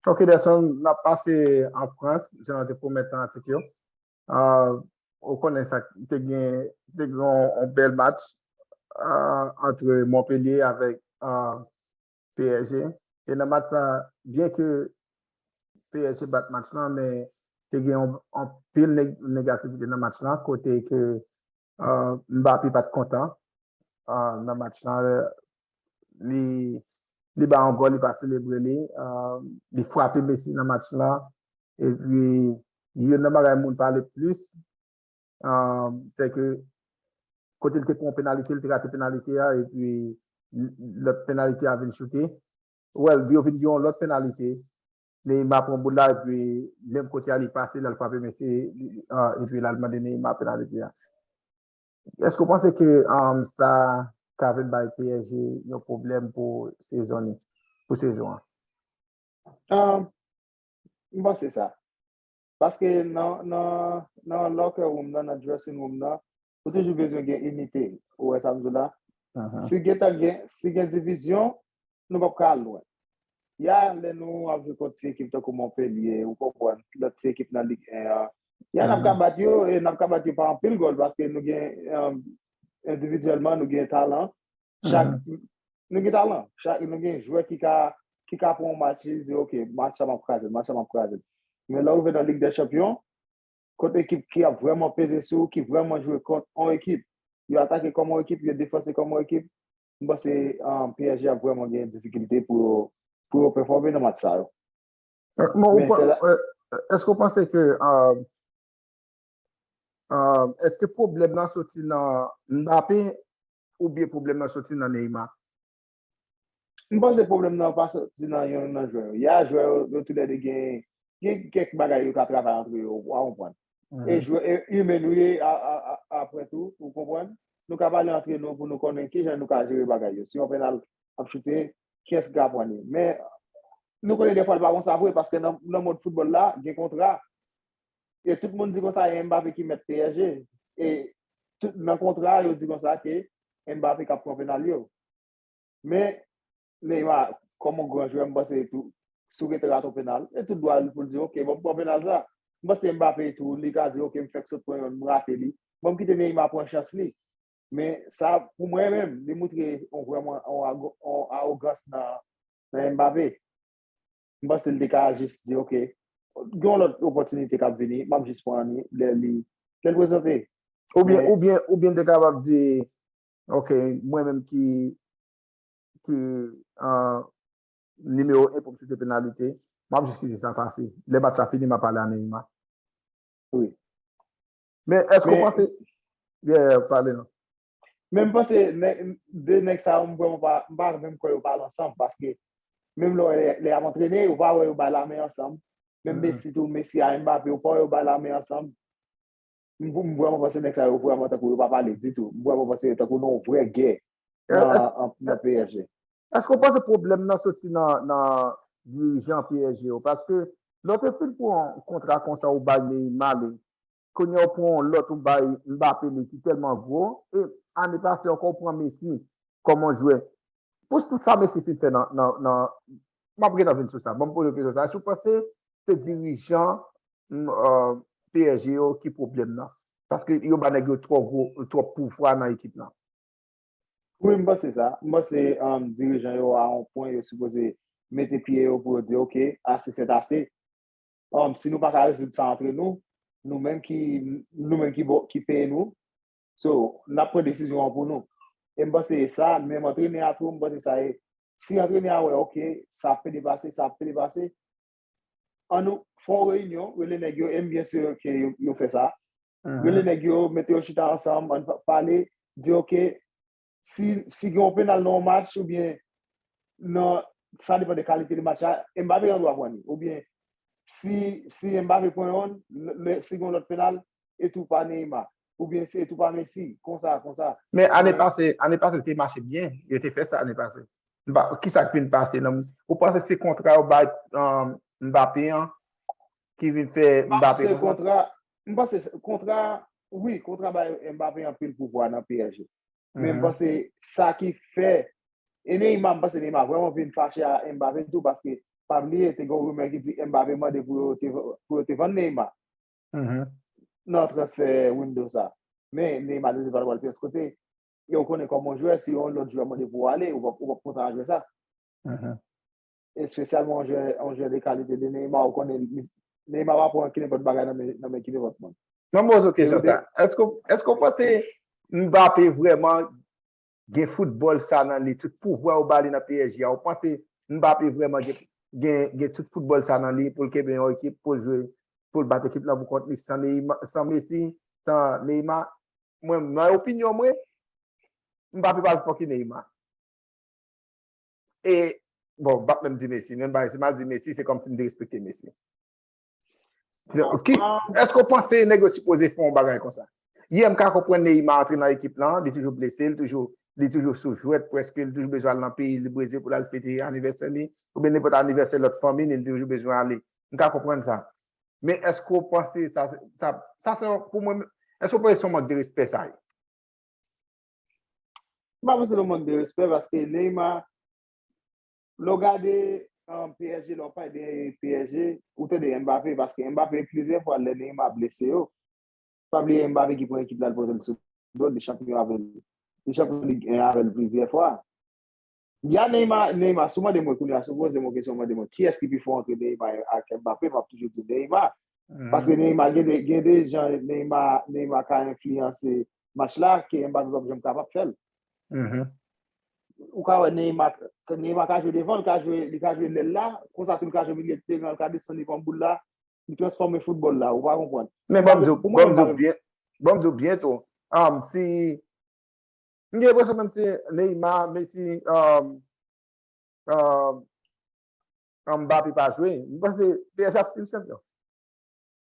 Ok Delson, n ap pase an Frans, jan nou te pwomèt nan atik yo. Ou konnen sa, te gen yon bèl match antre Montpellier avèk PSG. E nan match sa, byen ke PSG bat match lan, men te gen anpil negativite nan match lan, kote ke Mbappé pat kontan nan match lan li bay yon gòl li pa selebre li li frape Messi nan match lan epi youn nan bagay moun pale plis se ke kote li te pran yon penalite li te rate penalite a epi lòt penalite a vin choute well yo vin gen yon lòt penalite Neymar pran boul la epi menm kote a li pase lal frape mesye epi lal mande Neymar penaliti a. Eske w panse ke sa ka vin bay psg yon pwoblèm pou sezon ni, pou sezon an? M panse sa. Paske nan nan locker room nan, nan dressing room nan, ou toujou bezwen gen inite. Ou wè sa m di w la? Si gen tan gen, si gen divizyon, nou pap ka al lwen. Y a lè nou ap jwe kont ti ekip tankou Monpelye, ou konprann, lòt ti ekip nan Lig 1 an. Y a n ap ka bat yo e n ap ka bat yo pa anpil gòl paske nou gen endividyèlman nou gen talan. Chak, nou gen talan. Chak, nou gen jwè ki ka, ki ka pran yon match li di ok match sa m ap kraze l, match sa m ap kraze l. Men lè w rive nan Lig dè Chanpyon, kont ekip ki ap vrèman peze sou ou, ki vrèman jwe kont on ekip. Yo atake kòm on ekip, yo defanse kòm on ekip. M panse psg ap vrèman gen difikilte pou yo pou yo pèfòme nan match sa yo. Èske ou panse ke èske pwoblèm nan soti nan Mbappé oubyen pwoblèm nan soti nan Neymar? M panse pwoblèm nan pa soti nan yonn nan jwè yo. Y a jwè yo tou lè 2 gen kèk bagay yo ka travay antre yo, ou konprann. E jwè e imen nou ye apre tou, ou konprann. Nou ka pale antre nou pou nou konnen ki jan nou ka jere bagay yo. Si yon pennal ap choute, kiyès ki ka pran li? Men, nou konnen dèfwa l pa konsa vre paske nan mond foutbòl la, gen kontra. e tout moun di konsa e Mbappé ki mèt PSG e tout nan kontra yo di konsa ke Mbappé kap pran penal yo men Neymar kòm yon gran jwè mpanse tou si w rete rate yon penal e tout dwa l pou l di ok banm pran penal sa mpanse Mbappé tou li ka di ok m fèk sot pran yon m rate li banm kite Neymar pran chans li men sa pou mwen menm li moutre yon vrèman yon arogans nan Mbappé. m panse l te ka jis di ok, gen yon lòt opòtinite k ap vini, m ap jis pran li lè li lè l prezante. Oubyen oubyen oubyen l te kapab di ok mwen menm ki ki nimewo 1 pou m choute penalite, m ap jis kite sa pase. Lè match la fini m ap pale a Neymar. Wi. Men èske w panse Yeah, pale non. Men m panse nèg, 2 nèg sa yo m kwè m pa, m pa menm kwè yo pale ansanm paske menm lè lè y ap antrene ou pa wè yo bay lamen ansanm, menm Messi tou, Messi a Mbappé ou pa wè yo bay lamen ansanm. M m vrèman panse nèg sa yo vrèman tankou yo pa pale ditou. M vrèman panse tankou nan yon vrè gè nan nan psg. Èske ou panse pwoblèm nan soti nan nan dirijan psg yo? Paske lè w te fin pran yon kontra konsa ou bay Neymar li, Kounye a ou pran yon lòt ou bay Mbappé li ki tèlman gwo e ane pase ankò ou pran Messi kòm yon jwè. Pou tout sa Messi fin fè nan Map gentan vin sou sa. Banm poze w kesyon sa. Èske ou panse se dirijan PSG yo ki pwoblèm nan? Paske yo ba nèg yo twò gwo twòp pouvwa nan ekip lan. Wi m panse sa. M panse dirijan yo a yon pwen yo sipoze mete pye yo pou yo di ok ase sètase. si nou pa ka rezoud sa antre nou, nou menm ki, nou menm ki bo, ki peye nou, so, n ap pran desizyon an pou nou. E m panse e sa, menm antrenè a tou, m panse sa e, si antrenè a wè ok, sa ap fè depase, sa ap fè depase, an nou fè yon reyinyon, rele nèg yo, e m byen si ke yo fè sa, rele nèg yo, mete yo chita ansanm, an nou pale, di ok, si gen yon penal nan yon match ou byen nan sa depan de kalite de match la, Mbappé gen dwa pran li ou byen si Mbappé pran yon si gen yon lòt penal e tou pa Neymar ou byen se tou pa Messi konsa konsa. Men ane pase ane pase l te mache byen yo te fè sa ane pase kisa k vin pase nan ou panse se kontra yo bay Mbappé an ki vin fè Mbappé konsa? M panse kontra wi kontra bay Mbappé anpil pouvwa nan PSG Men m panse sa ki fè E Neymar m panse Neymar vrèman vin fache a Mbappé tou paske pa bliye te gen yon rumè ki di Mbappé mande pou yo te pou yo te vann Neymar nan transfè window sa men Neymar te di l pa t pral pyès kote e ou konnen kòman w jwè si yon lòt jwè mande pou w ale ou p ap kontan a jwè sa espesyalman yon jwè, yon jwè de kalite de Neymar, ou konnen li, Neymar pa pran ki nenpòt bagay nan men, nan men ki nenpòt moun. Mwen poze w kesyon sa, èske w, èske w panse Mbappé vrèman gen foutbòl sa nan li, tout pouvwa yo ba li nan psg a, ou panse Mbappé vrèman gen, gen, gen tout foutbòl sa nan li pou l kenbe yon ekip, pou l jwe, pou l bat ekip lan pou kont li san Neyma, san Messi, san Neymar? Mwen, nan opinyon mwen, Mbappé pa pi fò ke Neymar. E bon, m pap menm di Messi. Menm bagay, si ma di Messi, se kòm si m derespekte Messi. Ki, eske w panse nèg yo sipoze fè yon bagay konsa? Yè m ka konprann Neymar antre nan ekip lan, li toujou blese, li toujou, li toujou sou jwèt prèske, li toujou bezwen al nan peyi li, Brezil pou l al fete anivèsè li, oubyen nenpòt anivèsè lòt fanmi li, li toujou bezwen ale. M ka konprann sa. Men eske w panse sa, sa, sa se yon, pou mwen, eske w panse se yon mank de respè sa ye? M pa panse l yon mank de respè paske Neymar lè w gade PSG lè w pale de PSG ou tande Mbappé paske Mbappé plizyè fwa lè Neymar blese yo pa bliye Mbappé ki pran ekip la l pote l sou do l li chanpyon avè l li chanpyon lig 1 avè l plizyè fwa. Ya Neymar Neymar si w mande mwen kounya si w poze m yon kesyon w mande mwen kiyès ki pi fò antre Neymar ak Mbappé m ap toujou di Neymar paske Neymar gen de gen de jan Neymar Neymar ka enfliyanse match la ke Mbappé pap janm kapab fè l ou ka wè Neymar Neymar ka jwe devan l ka jwe li ka jwe lèl la konsa tou li ka jwe milye de teran l ka desann li pran boul la li transfòme foutbòl la ou pa konprann men banm di w banm di w byen banm di w byen tou si M gen enpresyon menm si Neymar, Messi, Mbappé pa jwe, m panse psg ap stil chanpyon.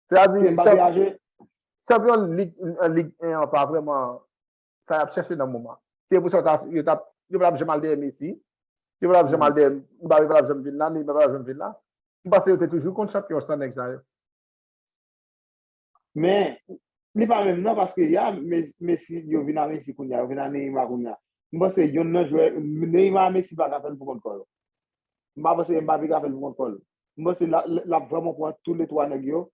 Se a di, chanpyon Lig 1 an pa vreman sa y ap chèche nan moman. Se pou sa yo tap, yo pa tap janm al dèyè Messi, yo pa tap janm al dèyè, Mbappé pa tap janm vin la, Neymar pa tap janm vin la. M panse yo te toujou konn chanpyon san nèg sa yo. Men, li pa menm nan paske ya Messi yo vin a Messi kounya, yo vin a Neymar kounya. M panse yonn nan jwè Neymar a Messi pa ka fè l pou kont kò l. M pa panse Mbappé ka fè l pou kont kò l. M panse l ap vrèman pran tou le twa nèg yo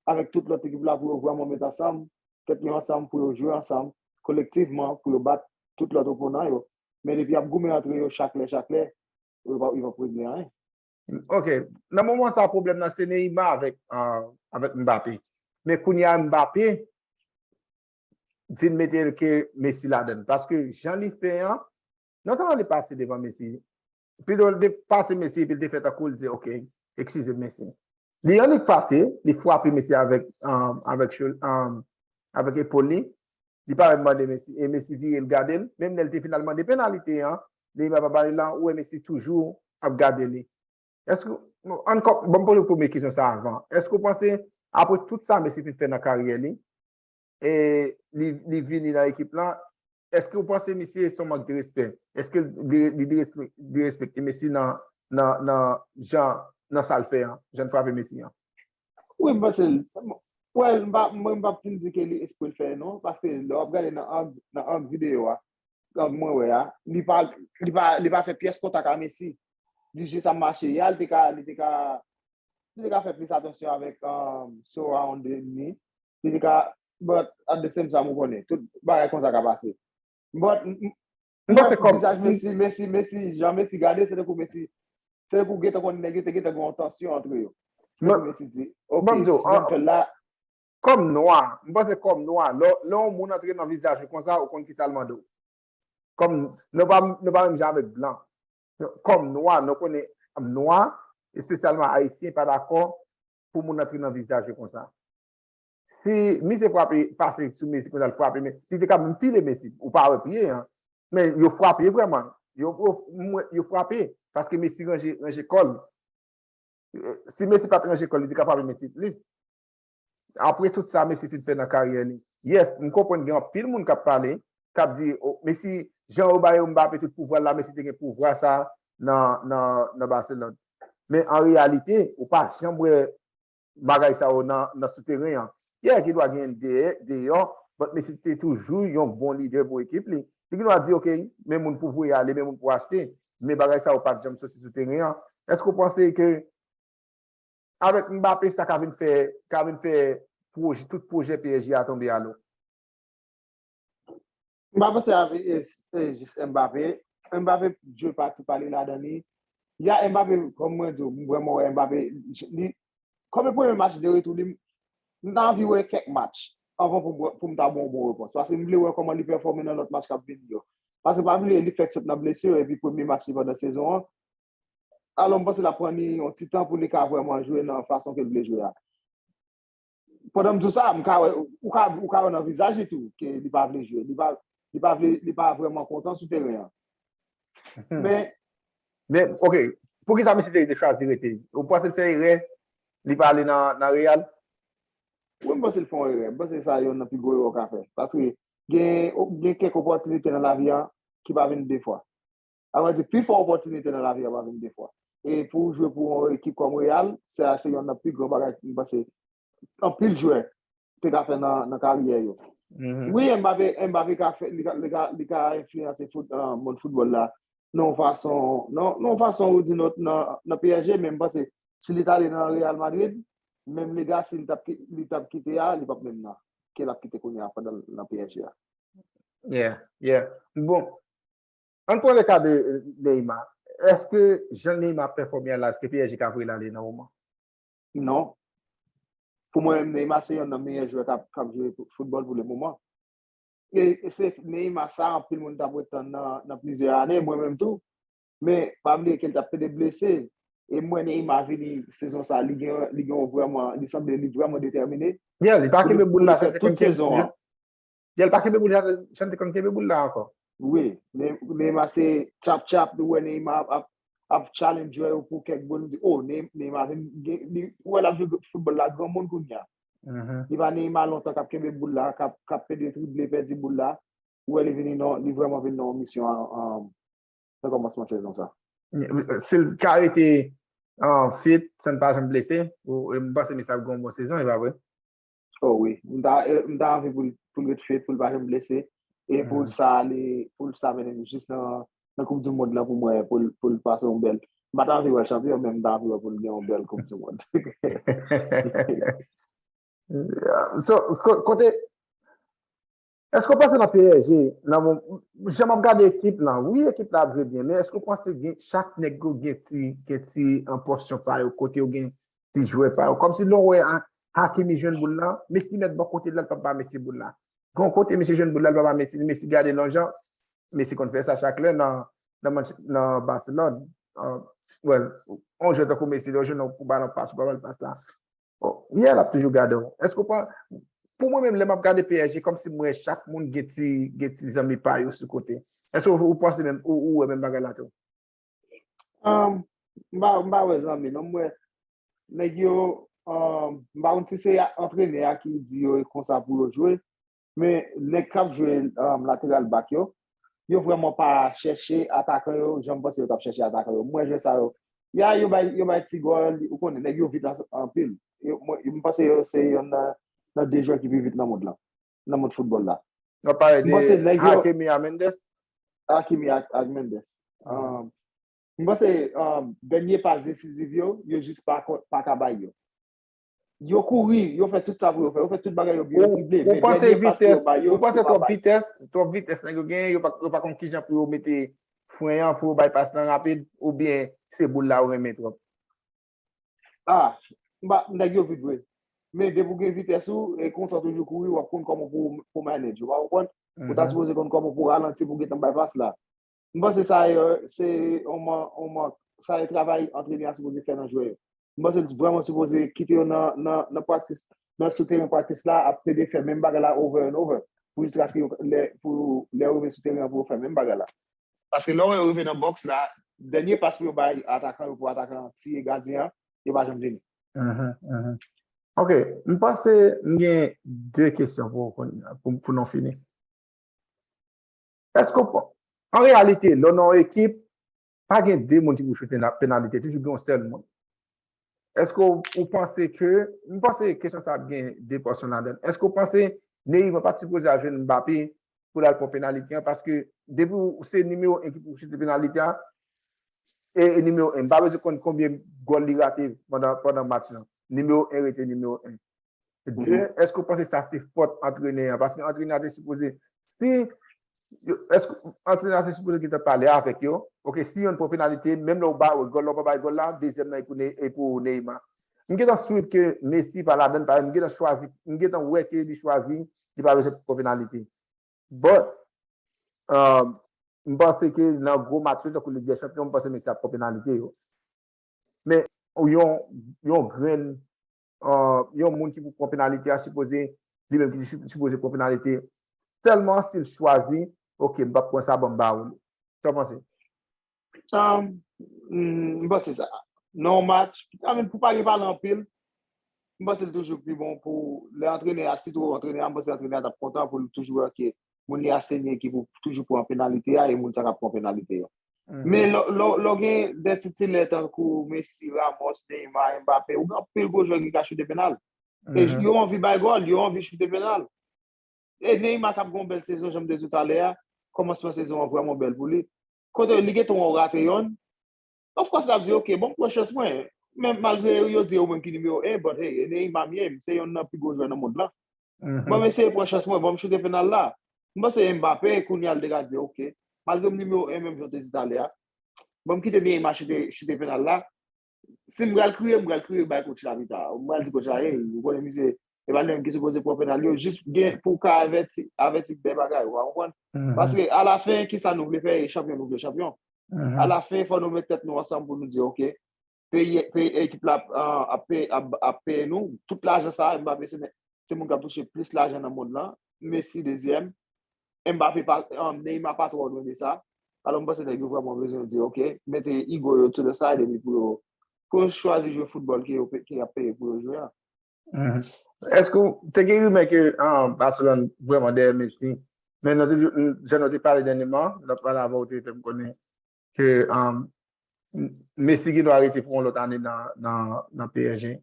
avèk tout lòt ekip la pou yo vrèman met ansanm, tèt yo ansanm pou yo jwe ansanm kolektivman pou yo bat tout lòt oponan yo. Men depi y ap goumen antre yo chak lè chak lè, yo pap regle anyen. Ok, nan moman sa pwoblèm nan se Neyma avèk Mbappé. Men kounye a Mbappé vin mete ke Messi ladan l. Paske jan li fè an, non sèlman li pase devan Messi, pito li te pase Messi epi li te fè tankou li di ok, eskize m Messi. Li annik pase, li fwape Messi avèk epòl li. Li pa menm mande Messi e Messi vire l gade l. Menm lè l te fin al mande penalite an, Neymar pa bali lan, ou wè Messi toujou ap gade li. Ann poze premye kesyon sa avan. Èske ou panse apre tout sa Messi fin fè nan karyè li, li vini nan ekip la, eske ou panse misye son mank de respè? Eske li derespekte Messi nan sa l fè an, jan l frape Messi an? Wi, m panse l. Wèl, mwen m pap fin di ke li espre l fè l non, paske lè w ap gade nan ang videyo a, ang mwen wè a, li pa fè pyès kontak a Messi. Li jis ap mache. Ya l te ka fè plis atansyon avèk surround li. Li ka, but at the same time ou konnen, tout bagay konsa ka pase. But, m panse kòm vizaj Messi, Messi, Messi, jan Messi gade se tankou Messi, se tankou gen tan konn nèg yo te gen tan gon tansyon antre yo. Se tankou Messi di, ok, si jèn fèl la. Kòm nwa, m panse kòm nwa, lè yon moun antre nan vizaj ou konsa, ou konn kisa l mande w. Kòm nou pa, nou pa menm jan avèk blan. Kòm nwa, nou konnen nwa, espesyalman ayisyen pa dakò pou moun antre nan vizaj yo konsa. Si misye frape pase sou Messi konsa l frape men li te ka menm pile Messi ou pa wè pye an men yo frape vrèman yo frape paske Messi ranje kò l si Messi pat ranje kò l li te ka frape Messi plis apre tout sa Messi fin fè nan karyè li yes m konprann gen anpil moun k ap pale k ap di Messi jan yo bay Mbappé tout pouvwa l la Messi te gen pouvwa sa nan Barcelone. Men an reyalite, ou pa janm wè bagay sa yo nan souteren an. Pierre gendwa genyen deyò, but Messi te toujou yon bon lidè pou ekip li. Li gendwa di ok, men moun pou voye ale, men moun pou achte, men bagay sa yo pa t janm soti sou teren an. Èske ou panse ke avèk Mbappé sa ka vin fè, ka vin fè tout pwojè PSG a tonbe a lo? M pa panse avk jis Mbappé, Mbappé jwe pati pa li ladan li, ya Mbappé kòm mwen di w m vrèman wè Mbappé li kòm e premye match de retou li m ta anvi wè kèk match anvan pou m ta ba w yon bon repons paske m vle wè kòman li pèfòme nan lòt match k ap vini yo paske pa bliye li fèk sot nan blesir epi premye match li pandan sezon an alò m panse l ap pran li yon ti tan pou li ka vrèman jwe nan fason ke l vle jwe a. Pandan m di w sa, m ka wè, ou ka, ou ka wè nan vizaj li tou ke li pa vle jwe. Li pa, li pa vle, li pa vrèman kontan sou teren an. Men. Men, ok, pou ki sa Messi te chwazi rete? Ou panse l fè erè li pa ale nan, nan Real? Wi, m panse l fè yon erè. M panse sa yonn nan pi gwo erè w ka fè. Paske gen, gen kèk opòtinite nan lavi an ki pa vini de fwa. Sa vle di pi fò opòtinite nan lavi a pa vin de fwa. E pou ou jwe pou yon ekip kòm Real, sa a se yonn nan pi gran bagay m panse anpil jwè te ka fè nan karyè yo. Wi Mbappé ka fè, li ka enfliyanse mond foutbòl la nan yon fason, nan yon fason ou di lòt nan psg men m panse si li t ale nan Real Madrid, menm legasi li t ap kite a, li p ap menm nan ke l ap kite kounye a pandan l nan psg a. Yeah, yeah. Bon. An n pran le ka de Neyma. Eske jan Neyma ap pèfòme a la, eske PSG ka voye l ale nan moman? Non. Pou mwen menm, Neyma se yonn nan meyè jwè k ap jwe foutbòl pou le moman. E se Neyma sa anpil moun t ap ret tann nan plizyè ane, mwen menm tou. Men, pa bliye ke li t ap pede blese. E m wè Neyma vini sezon sa, li gen yon vrèman, li sanble li vrèman detèmine. Li pa kenbe boul la fè tout sezon an. Jel pa kenbe boul jan jan te konn kenbe boul la ankò. Wi, Neymar se chap chap li wè Neymar ap ap challenge jwè yo pou kèk boul li di oh Neymar vin li wè lap jwe football la granmoun kounya. Li pa Neymar lontan kap kenbe boul la kap kap pede trible pèdi boul la ou wè li vini nan li vrèman vin nan yon misyon nan kòmansman sezon sa. Sil ka rete fit san pa janm blese mpanse Messi ap gen yon bon sezon epa vre? Oh wi, m ta m ta anvi pou l pou l ret fit, pou l pa janm blese e pou l sa li pou l sa mennen nou jis nan nan koup di mond lan pou mwen pou l pou l pase yon bèl m pa ta anvi wè l chanpyon men m ta anvi wè pou l gen yon bèl koup di mond. So kote Eske w panse nan PSG nan mo jan map gade ekip lan wi ekip la ap jwe byen men eske w panse gen chak nèg yo gen ti gen ti an pòsyon pa yo kote yo gen ti jwè pa yo kòmsi lè w wè a Hakimi jwenn boul la Messi mèt bò kote l la l pap ba Messi boul la gon kote misye jwenn boul la l pa ba Messi Messi gade l yon jan Messi konn fè sa chak lè nan nan Manch nan Barcelone an wè l yon jwè tankou Messi lè w jwenn yon balon pas ou pa ba l pas la. Oh, yeah, lap toujou gade w. Eske w pa Pou mwen menm lè map gade PSG kòm si m wè chak moun gen ti gen ti zanmi pa yo sou kote. Eske w ou panse menm ou ou wè menm bagay la tou? Um, m pa m pa wè zanmi non, m wè nèg yo um, m pa konn si se a antrenè a ki di yo e konsa pou yo jwe, Men nèg kap jwe lateral back yo, yo vrèman pa chèche atakan yo jan m panse yo tap chèche atakan yo. M wè jwè sa yo, ya yo bay yo bay ti gòl, ou konnen nèg yo vit anpil. M panse yo se yonn nan 2 jwè ki pi vit nan mond lan, nan mond foutbòl la. Wap pale de Hakimi a Mendes? Hakimi ak Mendes. M panse dènye pas desiziv yo, yo jis paka bay yo. Yo kouri, yo fè tout sa pou yo fè, yo fè tout bagay yo byen, yo trible. Ou panse vitès, ou panse twòp vitès, twòp vitès nèg yo genyen, yo pa konn kijan pou yo mete fren an, pou yo bay pas lan rapid, ou byen se boul la ou renmen twòp? A, mba, nèg yo vit vre. Men depi ou gen vitès ou, e konsa ou toujou kouri, wap konn kòman pou manage, ou pa konprann? Ou ta sipoze konn kòman pou ralanti pou gentan bay pas la. M panse sa yo se yon man yon mank. Sa yo travay antrenè a sipoze fè nan jwè yo. M panse li vrèman sipoze kite yo nan nan praktis nan sou teren praktis la ap plede fè menm bagay la over and over pou jiskaske yo lè pou lè yo rive sou teren an pou yo fè menm bagay la. Paske lè yo rive nan bòks la dènye pas pou yo bay atakan yo pou atakan an tiye gadyen an yo pa janm vini. Ok m panse m gen 2 kesyon pou ou pou nou fini. Èske ou pa. An reyalite, lè w nan yon ekip, pa gen de moun ki pou choute nan penalite, toujou gen yon sèl moun. Èske ou panse ke, m panse kesyon sa ap gen de pòsyon ladan l. Èske ou panse Neymar pa t sipoze al jwenn Mbappé pou l al pran penalite an paske depi w se nimewo 1 ki pou choute penalite a, e nimewo 1, m pa bezwen konn konbyen gòl li rate pandan match lan, nimewo 1 rete nimewo 1. De, èske ou panse sa se fòt antrenè an? Paske antrenè an te sipoze, si, èske antrenè an te sipoze gentan pale avèk yo, ok, si yonn pran penalite, menm lè ou ba gòl la ou pa bay gòl la, dezyèm nan e pou Neyma. M gentan swiv ke Messi pa ladann, paske m gentan chwazi, m gentan wè ke li chwazi, li pa bezwen pran penalite. But, m panse ke nan gwo match yo tankou Lig dè Chanpyon, m panse Messi ap pran penalite yo. Men, yon grenn yon moun ki pou pran penalite a sipoze li menm ki sipoze pran penalite sèlman si l chwazi ok m pap pran sa banm ba ou li. Sa w panse? M panse sa. Nan yon match, pou pa gen pale anpil, m panse l toujou pi bon pou lè antrenè a, sitou antrenè a, m panse antrenè a t ap kontan pou l toujou wè ke moun li asenye ki pou toujou pran penalite a e moun sa k ap pran penalite yo. Men lè w gen de titilè tankou Messi, Ramos, Neymar, Mbappé, ou gen anpil gwo jwè ki ka choute penal. E yo anvi bay gòl, yo anvi choute penal. E Neymar k ap gen yon bèl sezon, jan m te di w talè a, kòmansman sezon an vrèman bèl pou li. Kote li gen tan wè w rate yonn, Of course lap di ok, bon precious mwen, men malgre yo di ou menm ki nimewo 1, but hey, Enei Mamie m se yonn nan pi gwo jwè nan mond lan. Ban m eseye pran chans mwen, ban m choute penal la. M panse Mbappé kounye a li te ka di ok, malgre m nimewo 1 menm jan w te di talè a, ban m kite Neymar choute choute penal la, si m pral kriye, m pral kriye bay coach la pita. M pral di coach la hey, ou konnen misye e pa li menm ki sipoze pran penal yo, jis gen pou ka avèti, avèti de bagay, ou pa konprann? Paske a la fen ki sa nou vle fè e chanpyon nou vle chanpyon. A la fen fò nou met tèt nou ansanm pou nou di ok, peyi, peyi ekip la ap peye, ap peye nou, tout lajan sa, Mbappé se nèg, se moun k ap touche plis lajan nan mond lan, Messi dezyèm, Mbappé pa, Neymar pa twò lwen de sa, alò m panse nèg yo vrèman bezwen di ok, mete ego yo to the side epi pou yo, pou yo chwazi jwe foutbòl ke yo, ke y ap peye pou yo jwe an. Eske ou te gen rimè ke Barcelone vreman dèyè Messi, men jan nou te pale dènyeman, lòt pale avè ou te fè m konnen ke Messi gen dwa rete pou yon lòt ane nan PSG.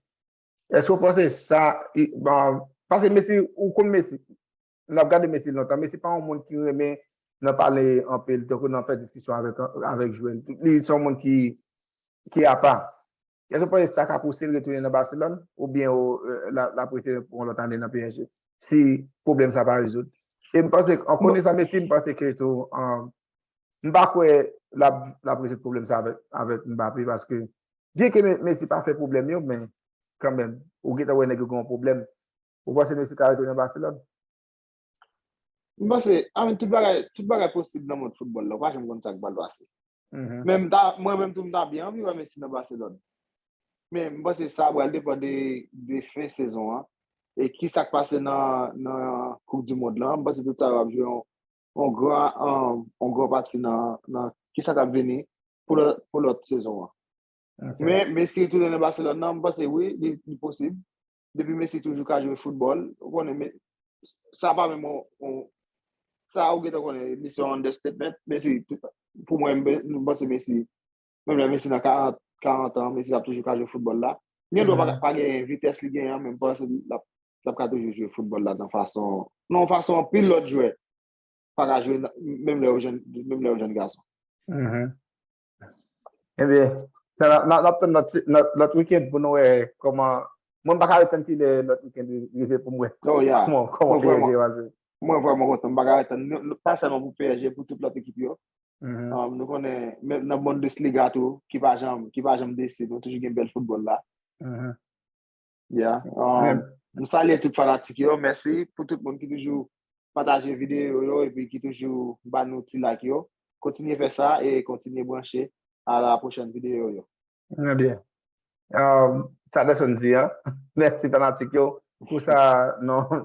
Eske ou panse sa, paske Messi, ou konn Messi, nap gade Messi lontan. Messi pa yon moun ki renmen nan pale anpil tankou nan fè diskisyon avèk jwè. Li se yon moun ki apa. Èske w panse sa ka pouse l retounen nan Baselòn oubyen lap rete pou yon lòt ane nan psg si pwoblèm sa pa rezoud? E m panse an konesan Messi m panse ke tou m pa kwè lap rezoud pwoblèm sa avèk Mbappé paske byenke Messi pa fè pwoblèm yo men kanmenm ou gentan wè nèg yo gen yon pwoblèm Ou panse Messi ka rete nan Baselòn? M panse, amèn, tout bagay, tout bagay posib nan mond foutbòl la, ou pa janm konn sa k pral pase. Men m ta, mwen menm tou m ta byen anvi wè Messi nan Baselòn. Men m panse sa pral depan de, de fen sezon an, e ki sa k pase nan, nan koup di mond lan, m panse tout sa yo ap jwe yon, yon gran, yon gran pati nan, nan ki sa k ap vini pou lòt, pou lòt sezon an. Men Messi retounen nan Baselòn nan, m panse wi, li, li posib. depi Messi toujou ka jwe foutbòl, ou konnen men, sa pa menm yon, sa ou gentan konnen li se yon understatement, Messi, pou mwen, mwen panse Messi, menm lè Messi nan 40, 40 an, Messi ap toujou ka jwe foutbòl la, li gen dwa pa genyen vitès li genyen an, men mwen panse l ap, l ap ka toujou jwe foutbòl la nan fason, nan yon fason anpil lòt jwè pa ka jwe menm lè yo jèn, menm lè yo jèn gason. Ebyen, nap tann lòt weekend pou nou wè kòman, mwen m paka wè tann kilè lòt weekend rive pou m wè kòman PSG yo aji. Mwen vwèman kontan, m paka wè tann, pa sèlman pou PSG, pou tout lòt ekip yo. Nou konnen, menm nan Bundesliga tou, ki pa janm desi, nou toujou gen bèl foutbòl la. Yeah. Um, m salye tout fanatik yo. Mèsi pou tout moun ki toujou pataje videyo yo epi ki toujou ba nou ti like yo. Kontinye fè sa e kontinye branche a la prochèn videyo yo. Mwen byen. Um, sa pèson di an. Mèsi fanatik yo pou sa non